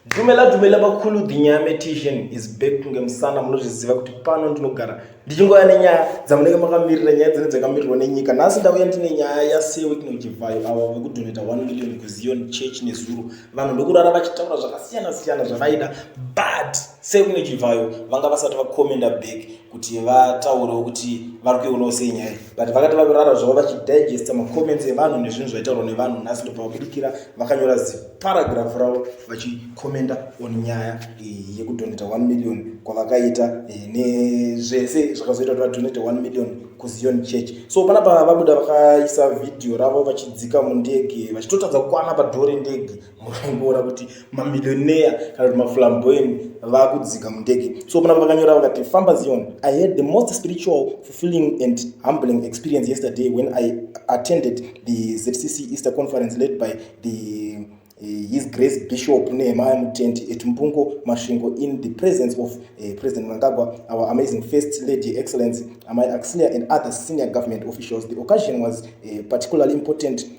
Dumela dumela bakhulu the nyame tishan is back kunge musana munozviziva kuti pano ndinogara ndichingoya nenyaya dzamunenge makamirira nyaya dzine dzakamirirwa nenyika nhasi ndauya ndine nyaya yasewit neuchivhayo avo vekudoneta 1 million kuzion church nezuro vanhu ndokurara vachitaura zvakasiyana siyana zvavaida but sewit neuchivhayo vanga vasati vakomenda back kuti vataurewo kuti vari kuionawo sei nyaya but vakati vakurara zvavo vachidigesta macomments evanhu nezvinhu zvaitaurwa nevanhu nhasi ndobva vabudikira vakanyora ziparagraph ravo vachikomenda on nyaya eh, yekudoneta 1 million kwavakaita eh, nezvese zvakazoita kuti vadonete 1 million kuzion church so pana pa vabuda vakaisa vhidhiyo ravo vachidzika mundege vachitotadza kukwana padhoo rendege mukangoona kuti mamillionaire kana kuti maflamboyant vakudzika mundege so pana vakanyora vakati famba zion i had the most spiritual fulfilling and humbling experience yesterday when i attended the zcc easter conference led by the Eh, his grace bishop nehemaya mutendi at mbungo masvingo in the presence of uh, president mangagwa our amazing first lady excellence amai axilia and other senior government officials the occasion was uh, particularly important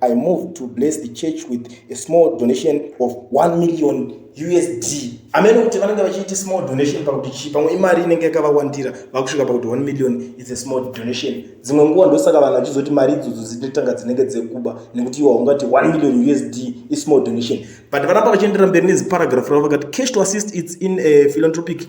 I moved to bless the church with a small donation of 1 million usd amene kuti vanenge vachiita small donation pakuti chii pamwe imari inenge yakavawandira vakusvika pakuti 1 million is a small donation dzimwe nguva ndosaka vanhu vachizoti mari idzodzo dzinotanga dzinenge dzekuba nekuti iwa ungati 1 million usd ismall donation but vanapa vachiendera mberi neziparagraph ravo vakati cash to assist its in a philanthropic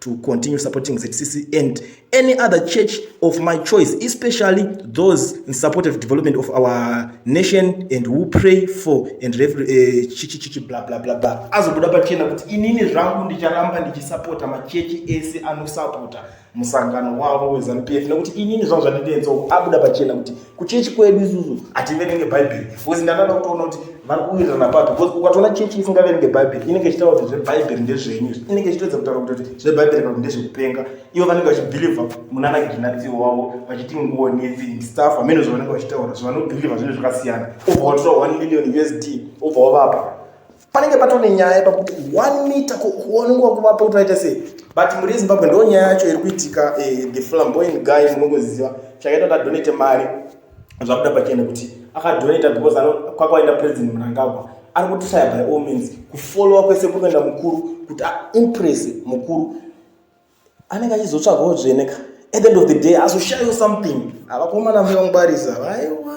to continue supporting ZCC and any other church of my choice, especially those in support of development of our nation and who pray for and uh, eh, chichi chichi blah blah blah blah. Azobuda pachena kuti inini zvangu ndicharamba ndichisapota machechi ese anosapota musangano wavo weZanu PF nekuti inini zvangu zvandinenzo abuda pachena kuti kuchechi kwedu isusu hativerenge bhaibheri bcause ndakada kutoona kuti vari kuwirirana papi bcause ukatoona chechi isingaverenge bhaibheri inenge ichitaura kuti zvebhaibheri ndezvenyu inenge ichitoedza kutaura kuti zvebhaibheri kana kuti ndezvekupenga ivo vanenge vachibhilivha munana ginatsio wavo vachiti nguo nefi staff hameno zvavanenge vachitaura zvavanobhilivha zvinhu zvakasiyana obva watora one million usd obva wavapa panenge patone nyaya pakuti one meter kuonwa kuvapa kuti vaita sei but mhuri yezimbabwe ndo nyaya yacho iri kuitika eh, the flamboyant guy munongoziziva chakaita kuti adonate mari zvakuda pachene kuti akadonata because kwakaenda president munangagwa ari kutishaya by all means kufollowa kwese kuri kuenda mukuru kuti aimpress mukuru anenge achizotsvagawo dzvene ka at the end of the day azoshayo something avakomana vangwarisa vaiwa